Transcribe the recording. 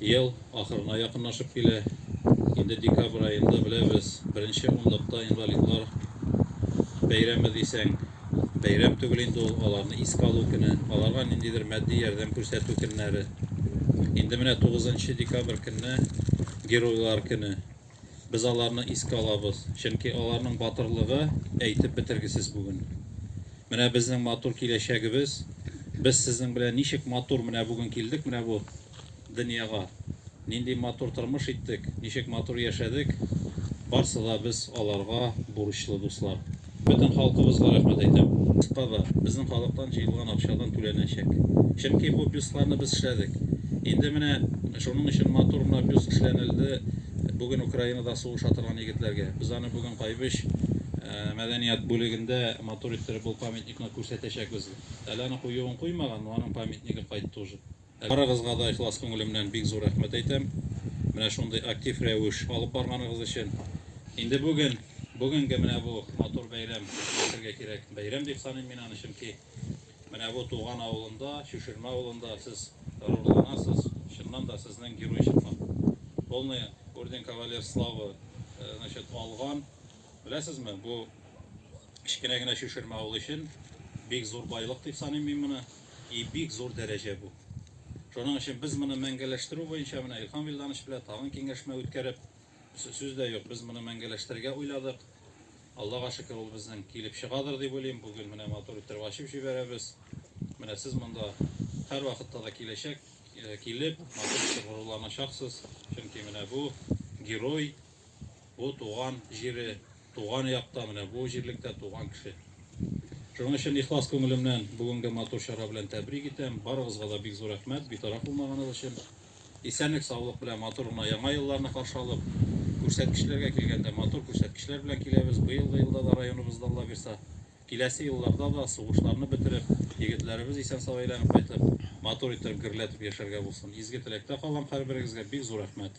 Ел ахырына якынлашып килә. Инде декабрь аенда беләбез, беренче унлыкта инвалидлар бәйрәме дисәң, бәйрәм түгел инде ул, аларны искә алу көне, аларга ниндидер матди ярдәм күрсәтү көннәре. Инде менә 9 декабрь көнне Геройлар көне. Без аларны искә алабыз, чөнки аларның батырлыгы әйтеп бетергесез бүген. Менә безнең матур киләчәгебез. Без сезнең белән ничек матур менә бүген килдек менә бу дөньяга. Нинди матур тормыш иттек, ничек матур яшәдек. Барсы да без аларга бурычлы, дуслар. Бөтен халкыбызга рәхмәт әйтәм. Кызыкпады, безнең халыктан җыелган акчадан түләнәчәк. Чөнки бу бюстларны без эшләдек. Инде менә шуның өчен матур гына бюст эшләнелде бүген Украинада сугыша торган егетләргә. Без аны бүген Кайбыч мәдәният бүлегендә матур иттереп ул памятникны күрсәтәчәкбез. Әле аны куюын куймаган, но аның памятнигы кайтты уже. Барыгызга да ихлас күңелемнән бик зур рәхмәт әйтәм, менә шундый актив рәвеш алып барганыгыз өчен. Инде бүген, бүгенге менә бу матур бәйрәм, әйтергә кирәк, бәйрәм дип саныйм мин аны, чөнки менә бу туган авылында, Чүшермә авылында сез горурланасыз, чыннан да сезнең герой чыккан. Полный орден кавалер славы э, значит, алган. Беләсезме, бу кечкенә генә Чүшермә авылы өчен бик зур байлык дип саныйм мин моны. И бик зур дәрәҗә бу. Шуның өчен без моны мәңгәләштерү буенча менә Илһам Вилданович белән тагын киңәшмә үткәреп, сүз дә юк, без моны мәңгәләштерергә уйладык. Аллага шөкер, ул безнең килеп чыгадыр дип уйлыйм. Бүген менә матур иттереп ачып җибәрәбез. Менә сез монда һәрвакытта да киләчәк, э, килеп, матур итеп горурланачаксыз. Чөнки менә бу герой, Бу туган җире, туган якта, менә бу җирлектә туган кеше. Шуның өчен ихлас күңелемнән бүгенге матур чара белән тәбрик итәм. Барыгызга да бик зур рәхмәт, битараф булмаганыгыз өчен. Исәнлек, саулык белән матур гына яңа елларны каршы алып, күрсәткечләргә килгәндә матур күрсәткечләр белән киләбез. Быелгы елда да районыбызда Алла бирса, киләсе елларда да сугышларны бетереп, егетләребез исән-сау әйләнеп кайтып, матур иттереп гөрләтеп яшәргә булсын. Изге теләктә калам һәрберегезгә бик зур рәхмәт.